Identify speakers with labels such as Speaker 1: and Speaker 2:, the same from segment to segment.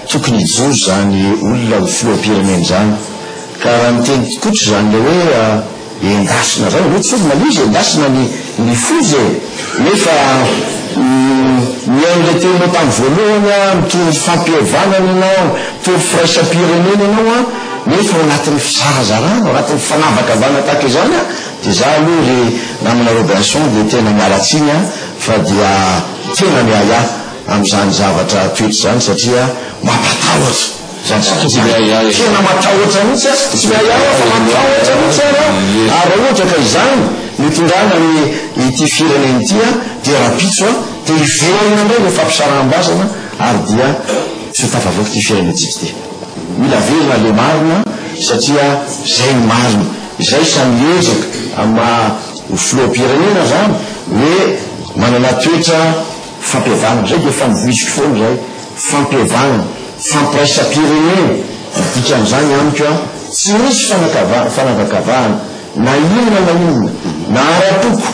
Speaker 1: tokony hijoro izany olona ho filoham-pirenena izany ka raha niteny tikotra izany ilay hoe Endasina zany aloha tsy olona izy endasina ny ny foza e! nefa mihaino le teninao tam voalohany aho mitory ny fampihavanana ianao mitory firaisam-pirenena ianao an! nefa ao anatin'ny fizarazarana ao anatin'ny fanavakavahana tahaka izany an! dia za aloha ry namana Robinson dia tena miala tsiny an! fa dia tena miahiahy amin'izany zavatra toetra izany satria mampatahotra. Fa tsy tokony ahiahy aho. Tena matahotra mihitsy aho. Tsy ahiahy aho fa matahotra mihitsy ary aho. Ary raha ohatra ka izany no itondrana an' ity firenena ity aho dia rahampitso aho dia hiverina indray ilay fampisaraham-bazana ary dia tsy ho tafavoaka ity firenentsika ity. Mila velona le marina satria zay ny marina. Izay sa miezaka amin'ny maha ho filoham-pirenena zany hoe manana toetra. Fampihavanana, izay dia efa novoiziko foana izay, fampihavanana, fampiraisam-pirenena, ny dikan'izany amiko an, tsy misy fanakavahana, fanavakavahana, na inona na inona, na ara-poko,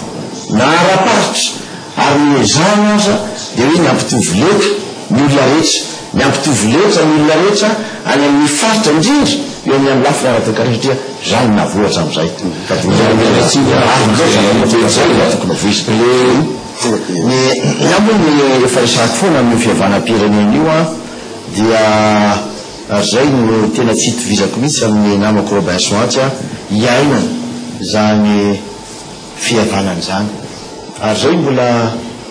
Speaker 1: na ara-paritra, ary ny ezahana aza dia hoe ny hampitovy leta ny olona rehetra, ny hampitovy leta ny olona rehetra any amin'ny faritra, indrindra eo amin'ny amin'ny lafiny ara-toekarena, satria izany no nahavoa hatramin'izay, fa dia izay no tena marina izay, izay no tena tokony hovoizina. Ny ahy moa ny efa resahako foana amin'io fihavanam-pirenena io an, dia ary izay no tena tsy itovizako mihitsy amin'ny namako Robinson atsy an, hiaina izany fihavanana izany. Ary izay mbola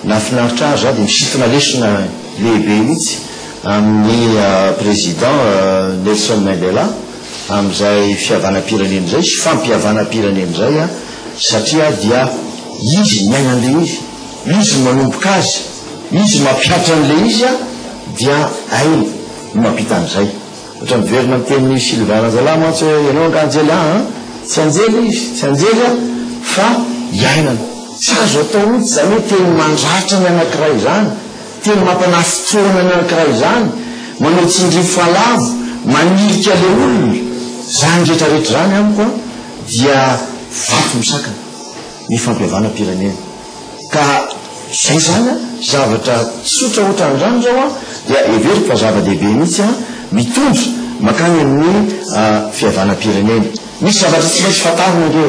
Speaker 1: nahafinaritra ahy ary za dia misintona lesona lehibe mihitsy amin'ny Président Nelson Mandela amin'izay fihavanam-pirenena izay sy fampihavanam-pirenena izay an, Satria dia Izy miaina an'ilay izy, Izy manomboka azy, Izy mampihatra an'ilay izy an, dia Hainy no mampita an'izay. Ohatra miverina amin'ny tenin'i Sylvain Ranjalahy mantsy hoe, ianao angaha anjely an, an, tsy anjely izy, tsy anjely an, fa iainana. Tsy azo atao mihitsy izany hoe teny mandratra ny anankiray izany, teny mampanafitsoana ny anankiray izany, manao tsindrio falavo, manilika ilay olona, izany rehetra rehetra izany amiko an, dia vaky misakana ny fampihavanam-pirenena ka izay izany an, zavatra tsotra ohatran' izany izao an dia heveriko fa zava-dehibe mihitsy an, mitondra mankany amin'ny fihavanam-pirenena. Misy zavatra tsy maintsy fantarina ange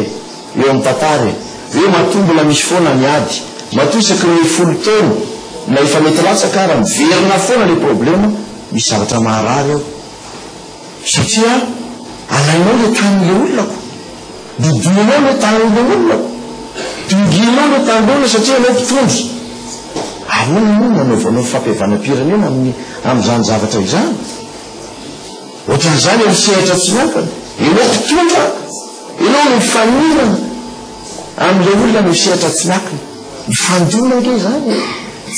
Speaker 1: eo amin'ny tantara e, hoe matoa mbola misy foana ny ady, matoa isaky ny folo taona na efa mety latsaka ara miverina foana ilay problema, misy zavatra maharary eo. Satria alainao ilay tanin'ilay olona ko. Didianao ilay tanin'ilay olona ko. Dingianao ilay tanin'ilay olona satria ianao mpitondra. Ahoana moa no hanaovanao fampihavanam-pirenena amin'ny amin'izany zavatra izany? Ohatran'izany amin'ny sehatra tsy miankina. Ianao mpitondra, ianao no mifanirana amin'ilay olona amin'ny sehatra tsy miankina. Mifandona ange izany e!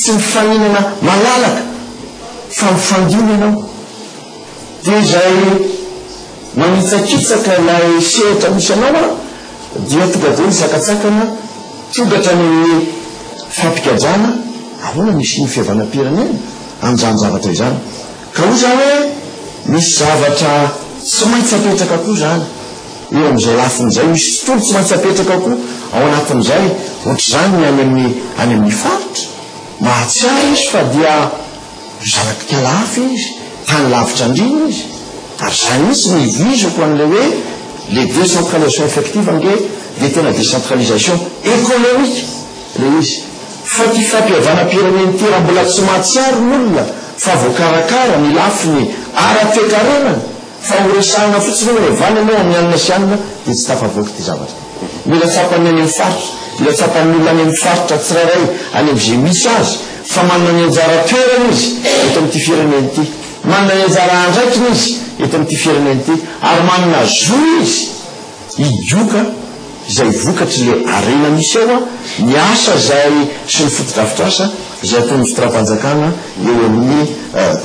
Speaker 1: Tsy mifaninana malalaka fa mifandona ianao. Dia izay manitsakitsaka ilay sehatra misy anao an, dia tonga dia misakatsakana tonga hatrany amin'ny fampikajana ahoana no hisian'ny fihavanam-pirenena amin'izany zavatra izany. Ka hoy za hoe misy zavatra tsy maintsy apetraka koa izany eo amin'izay lafiny izay, misy tontolo tsy maintsy apetraka koa ao anatin'izay, ohatr'izany ny any amin'ny any amin'ny faritra, mahatsiaro izy fa dia. Mizaratika lafo izy, tany lavitra andriana izy, ary izany mihitsy no ivoizako an'ilay hoe le décentralisation effective ange dia tena décentralisation économique ilay izy, fa ity fampihavanam-pirenen'ity mbola tsy mahatsiaro ny olona fa voakarakara ny lafiny ara-toekarenany. Fa horesahina fotsiny hoe mihavana ianao amin'ny anona sy anona dia tsy tafavoaka ity zavatra ity. Mila tsapan'ny any amin'ny faritra, mila tsapan'ny olona any amin'ny faritra tsirairay any amin'izay misy azy fa manana ny anjara toerany izy eto amin'ity firenena ity, manana ny anjara andraikiny izy eto amin'ity firenena ity ary manana zo izy. I Dioka izay vokatry le harena misy eo a, ny asa izay sy ny fotodrafitrasa izay ataon'ny fitondram-panjakana eo amin'ny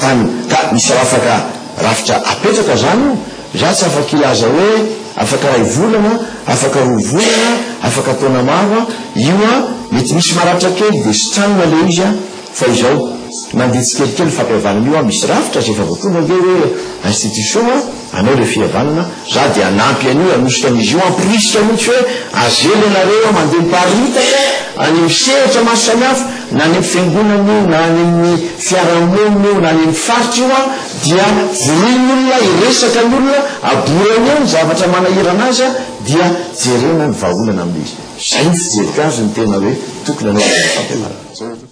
Speaker 1: tany ka misy rafaka rafitra apetraka izany io, za tsy afaka hilaza hoe afaka iray volana, afaka roa volana, afaka taona maro a, io a mety misy maratra kely de sitranina le izy a, fa izao mandeha tsikelikely ny fampihavanana io a, misy rafitra izay efa voatondro ange hoe institution a, Anao re fia vanona, za de hanampy an'io hanosika an'izy io, hamporisika mintsy hoe azely ianareo mandeha miparitaka any amin'ny sehatra maro samihafa, na any amin'ny fiangonana io, na any amin'ny fiarahamonina io, na any amin'ny faritra io an, dia voroy ny olona, hiresaka ny olona, aborany eo ny zavatra manahirana azy an, dia jerena ny vahaolana amin'ilay izy. Zay ny fijeriko azy ny tena hoe tokony hanao izay ny fampianarana.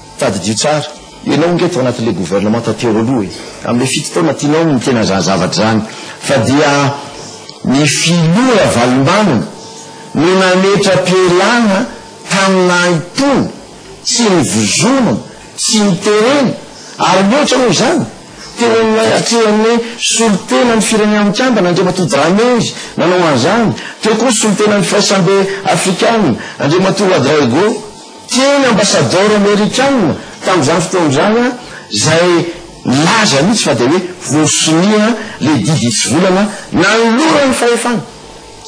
Speaker 1: Tadidio tsara, enao nge tao anatin'le gouvernementa teo aloha e! Amle fito taona tianao no tena za zavatra zany fa dia ny filoha Ravalombanana no nametra-pielana tamina itony tsy nivozonana tsy niterena ary mihoatra noho izany teo amin'ilay atrehan'ny solontenan'ny firenena mikambana Andriamatoa Dramaizy nanao an'izany teo koa solontenan'ny firaisambe Afrikana Andriamatoa Ouadraogo Teny ambasadaoro amerikana tamin'izany fotoana izany aho, izay nilaza mihitsy fa dia hoe voasonia ilay didy hitsivolana nanoloran'ny fahefana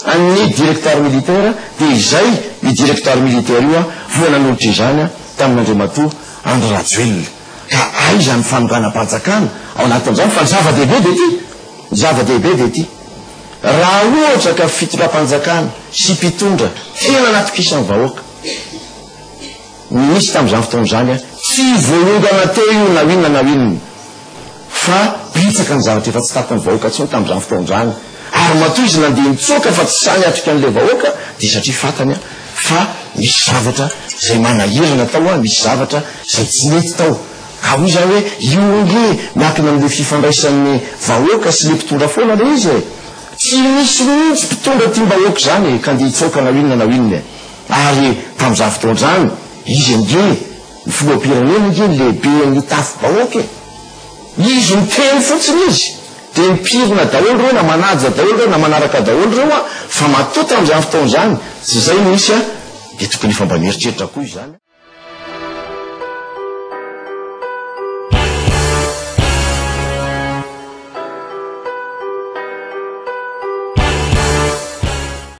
Speaker 1: an'ny directeur militaire, dia izay io directeur militaire io voa nanolotra izany tamin'Andriamatoa Andry Rajoelina. Ka aiza ny fanonganam-panjakana ao anatin'izany? Fa ny zava-dehibe dia ity, ny zava-dehibe dia ity, raha ohatra ka fitondram-panjakana sy mpitondra tena anatokisan'ny vahoaka, Ny nisy tamin'izany fotoana izany an, tsy voaongana teo io na inona na inona, fa betsaka ny zavatra efa tsy takon'ny vahoaka intsony tamin'izany fotoana izany, ary matoa izy nandeha nitsoaka fa tsy sahy niatrika an'ilay vahoaka, dia satria fantany an, fa nisy zavatra izay manahirana tao an, nisy zavatra izay tsy nety tao. Ka hoy izaho hoe, io ange miankina amin'ilay fifandraisan'ny vahoaka sy ilay mpitondra foana ilay izy e! Tsy misy mihitsy mpitondra tiam-bahoaka izany e, ka andeha hitsoaka na inona na inona e! Ary tamin'izany fotoana izany, izy ange ny filoham-pirenena ange ny lehiben'ny tafi-bahoaka e! Izy miteny fotsiny izy dia mipirina daholo ireo na manaja daholo ireo na manaraka daholo ireo an! Fa matoa tamin'izany fotoana izany tsy izay no nisy an! Dia tokony efa mba mieritreritra koa izany an!